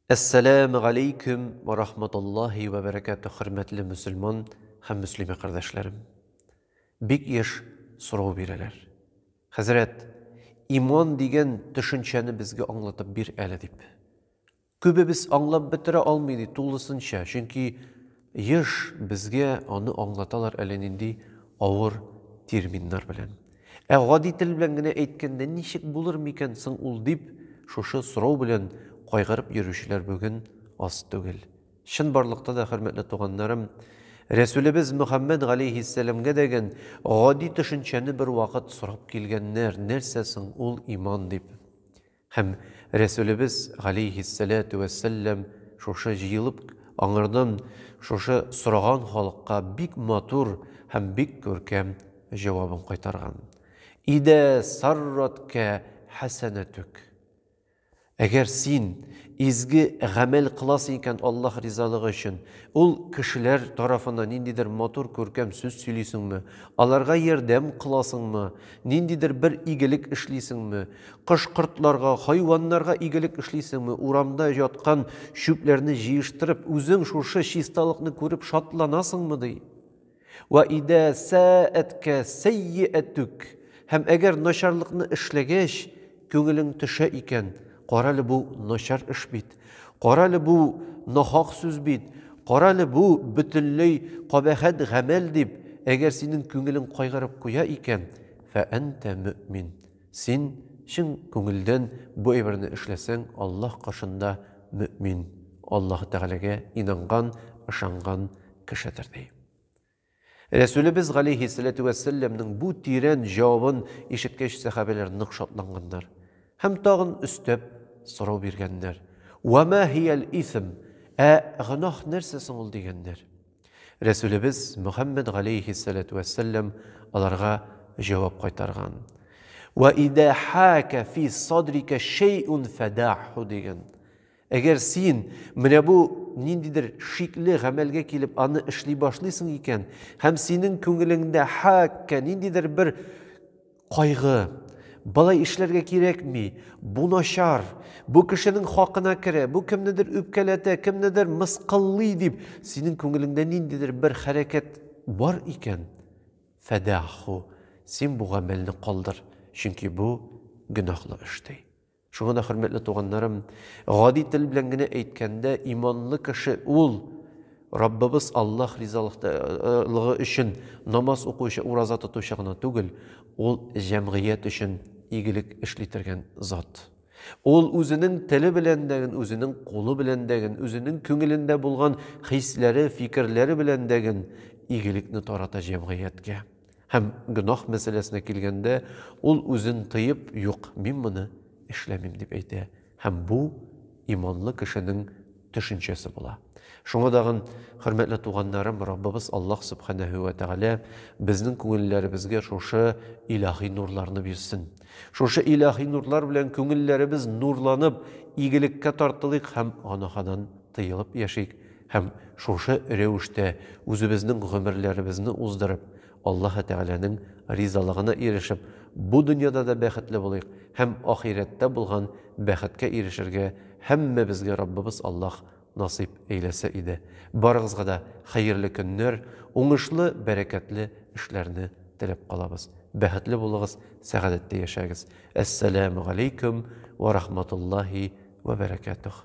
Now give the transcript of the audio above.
Әссәләмү галәйкүм вә рахматуллаһи вә бәрәкәтү, хөрмәтле мөселман һәм мөслимә кардәшләрем. Бик еш сорау бирәләр. Хәзрәт, иман дигән төшенчәне безгә аңлатып бир әле дип. Күбебез аңлап бетерә алмый ди тулысынча, чөнки Еш безгә аны аңлаталар әле нинди авыр терминнар белән. Ә гади тел белән генә әйткәндә ничек булыр микән соң ул дип, шушы сорау белән кайгырып йөрүчеләр бүген аз түгел. Чынбарлыкта да, хөрмәтле туганнарым, Рәсүлебез Мөхәммәд галәйһиссәламгә дәген гади төшенчәне бервакыт сорап килгәннәр, нәрсә соң ул иман дип. Һәм Рәсүлебез, галәйһиссәләтү вәссәлләм, шушы җыелып аңардан шушы сораган халыкка бик матур һәм бик күркәм җавабын кайтарган, Идә сарраткә хәсәнәтүк, Әгәр син изге гамәл кыласың икән Аллаһ ризалыгы өчен, ул кешеләр тарафына ниндидер матур, күркәм сүз сөйлисеңме, аларга ярдәм кыласыңмы, Ниндидер бер игелек эшлисеңме? Кош-кортларга, хайваннарга игелек эшлисеңме? Урамда яткан чүпләрне җыештырып, үзең шушы чисталыкны күреп шатланасыңмы? ди. Вә идә сәәәткә сәййиәтүк, һәм әгәр начарлыкны эшләгәч, Күңелең төшә икән, карале бу начар эш бит, карале бу нахак сүз бит, карале бу бөтенләй кабәхәт гамәл дип, әгәр синең күңелең кайгырып куя икән, фәәнтә мөэмин, син чын күңелдән бу әйберне эшләсәң, Аллаһ каршында мөэмин, Аллаһы Тәгаләгә инанган, ышанган кешедер, ди. Рәсүлебез галәйһи сәләтү вә сәлләмнең бу тирән җавабын ишеткәч, сәхабәләр нык шатланганнар һәм тагын өстәп сорау биргәннәр, Вә мә һиял исм, ә гөнаһ нәрсә соң ул? дигәннәр. Рәсүлебез Мөхәммәд галәйһи сәләтү вә сәлләм аларга җавап кайтарган, Вә идә хәкә фи садрика шәйүн фәдәгьһу диген. Әгәр син менә бу ниндидер шикле гамәлгә килеп аны эшли башлыйсың икән һәм синең күңелеңдә хәккә ниндидер бер кайгы, болай эшләргә кирәкми, бу начар, бу кешенең хакына керә, бу кемнедер үпкәләтә, кемнедер мыскыллый дип, синең күңелеңдә ниндидер бер хәрәкәт бар икән, фәдәху, син бу гамәлне калдыр, чөнки бу гөнаһлы эш ди. Шуңа да, хөрмәтле туганнарым, гади тел белән генә әйткәндә, иманлы кеше ул Раббыбыз Аллаһ ризалыгы өчен намаз укучы, ураза тотучы гына түгел, ул җәмгыять өчен игелек эшли торган зат. Ул үзенең теле белән дә, үзенең кулы белән дә, үзенең күңелендә булган хисләре, фикерләре белән дә игелекне тарата җәмгыятькә. Һәм гөнаһ мәсьәләсенә килгәндә, ул үзен тыеп, юк, мин моны эшләмим, дип әйтә. Һәм бу иманлы кешенең төшенчәсе була. Шуңа тагын, хөрмәтле туганнарым, Раббыбыз Аллаһ Сүбхәнәһү вә Тәгалә безнең күңелләребезгә шушы илаһи нурларны бирсен. Шушы илаһи нурлар белән күңелләребез нурланып, игелеккә тартылыйк һәм гөнаһадан тыелып яшик, Һәм шушы рәвештә үзебезнең гомерләребезне уздырып, Аллаһы Тәгаләнең ризалыгына ирешеп, бу дөньяда да бәхетле булыйк һәм ахирәттә булган бәхеткә ирешергә һәммәбезгә Раббыбыз Аллаһ насыйп әйләсә иде. Барыгызга да хәерле көннәр, уңышлы, бәрәкәтле эшләрне теләп калабыз. Бәхетле булыгыз, сәгадәттә яшәгез. Әссәләмү галәйкүм вә рахматуллаһи вә бәрәкәтүһ.